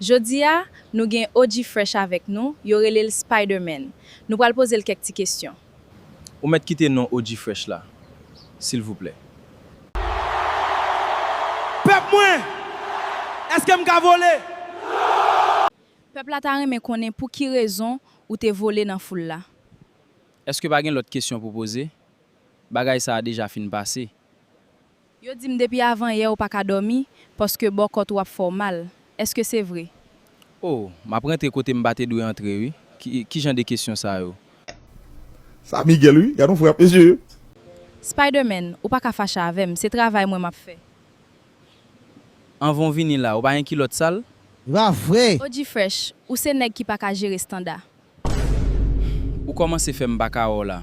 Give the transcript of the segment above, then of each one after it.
Jodi a, nou gen OG Fresh avèk nou, yo rele l Spiderman. Nou pral poze l kèk ti kesyon. Ou mèt kite non OG Fresh la, silvouplè. Pèp mwen! Èske m ka vole? Non! Pèp la ta renmen konnen pou ki rezon ou te vole nan foul la. Èske pa gen lòt kesyon pou poze? Bagay sa a deja fin pase. Yo di m depi avanyè ou pa ka dòmi paske bò kòt ou ap fè w mal. Èske se vre? O! M ap rantre kote m pa te dwe antre wi. Ki jan de kesyon sa yo? Sa Miguel wi. Gad yon frè ap eseye. Spiderman, ou pa ka fache avè m. Se travay mwen m ap fè. Anvan w vini la, ou pa gen kilòt sal? Ra vre! O G-Fresh, ou se nèg ki pa ka jere standa. Ou kòmanse fè m pa ka wè w la.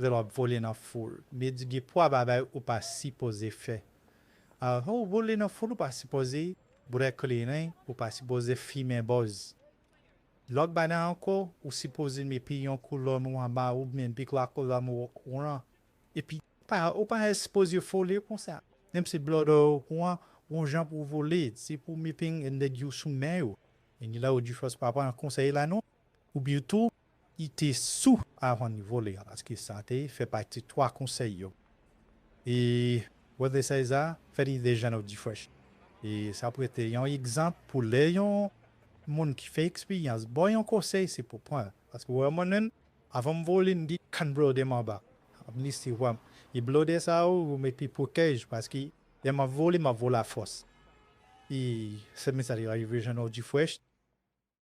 Lè wap vole nan foul. Medi gen pwa bagay ou pa sipoze fè ah lè ou vole nan foul ou pa sipoze bwè kleren ou pa sipoze fimen bòz lòt bagay ankò ou sipoze met piyon kou lòn ou anba ou byen bik la kou lòn ou okouran epi ou pa sipoze vole konsa menm si blòdè yo okouran gon jan pou vole se pou mete nèg yo sou men yo gen lè ou di fòs pa pran konsèy la non ou byen tou Li te sou avan nivo li an paske sa te fè pati twa konsèy yo. E Brother Cesar fè li deja nou di fresh. E sa prete yon egzanp pou lè yon moun ki fè eksperyans baw yon konsèy se pou pran l. Paske wè mwen menm avan m vole m gen kann blòdè m anba m lese wè m. E blòdè sa yo yo mete pwotèj paske lè map vole map vole a fòs. E se menm sa li rive jwenn nou di fresh.